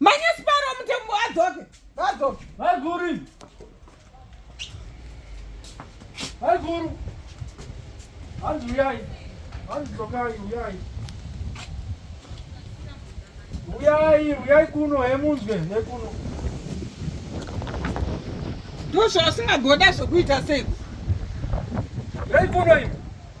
manyasiparo mutembo adzoke adzoke vaiguru vaiguru hanzi uyai hanzi dzokai uyai uyai uyai kuno hemunzwe nekuno ndozvausingagoda zvokuita sei reikuno ivo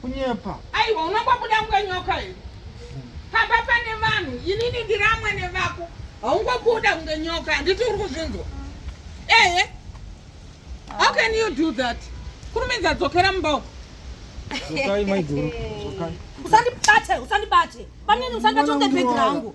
kunyepa aiwa unongobuda mnga nyoka here pamba pane vanhu inini ndiri amwene vako haungobuda kunge nyoka handiti uri kuzvinzwa ehe how can you do that kurumidza dzokera mumba uko usandibate usandibate pamnini usandibate unge bhegi rangu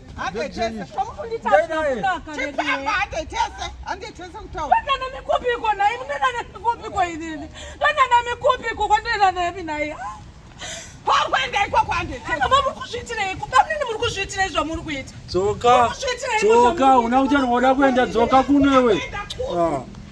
dzoka dzoka una uchanoda kuenda dzoka kunewe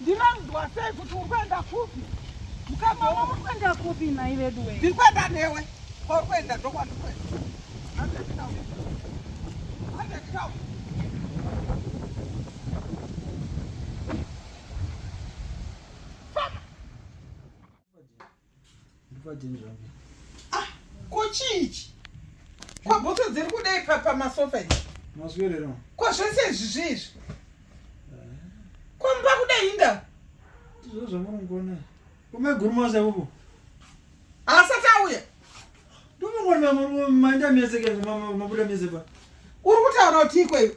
Ndinonzwa sei kuti uri kuenda kupi? Mukadzi wangu uri kuenda kupi nhai veduwe? Ndiri kuenda newe. Kwauri kuenda ndokwandiri kuenda. Handekutaura. Handekutaura. Ah, ko chii ichi? Ko bhutsu dziri kudei pamasofa ichi? Maswerera. Ko zvese izvi zviizvi? Eh. Ko mba kudei inda? Ndizvo zvamunongona. Kume guru masa ipopo. Asati auya. Ndimongona mamurume maenda mese ke mabuda mese pa. Uri kutaura kuti ikweyo.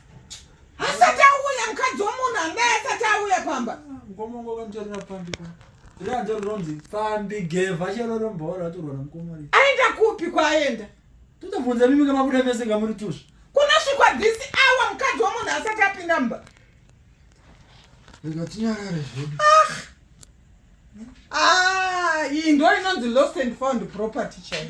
asati auya mukadzi womunhu angai asati auya pamba mukomongo kamtarira pambi pa rianzo rinonzi pambi gevha chero rombora atorwa namukomori aenda kupi kwaaenda totobvunza mimi kamabuda mese ngamuri tusvi kunosvikwa this hour mukadzi womunhu asati apinda mumba rega tinyarare zvedu ah! ah, iyi ndo inonzi lost and found property chaio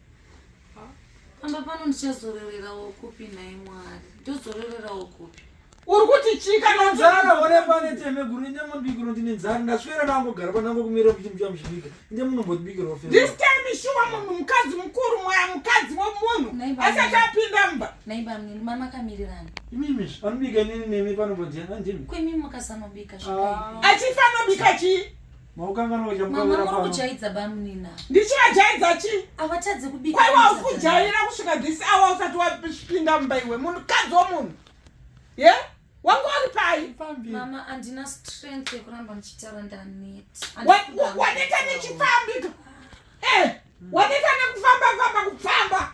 pamba pano ndichazororerawo kupi nhai mwari ndozororerawo kupi uri kuti chikanonzara oremba neteme guru inde mabikiro ndine nzara ndaswera nangogara panango kumira kuti mucha muchibika inde munombotibikirawo this time shuwa munhu mukadzi mukuru mwaya mukadzi wemunhu asati apinda mumba naiba mnini mama kamirirana imimi anobika nini nemi panombodya andimi kwemimi mukasanobika achifanobika chii Maukanganwa uja mukawira pano. Mama mukujaidza bamunina. Ndichajaidza chi? Avatadze kubika. Kwai wakujaira kusvika this hour usati wapinda mumba iwe munhu kadzi womunhu. Ye? Yeah? Wangu wari pai? Fambi. Mama andina strength yekuramba ndichitaura ndaneta. Waneta nechifambi. Eh, waneta nekufamba famba kufamba.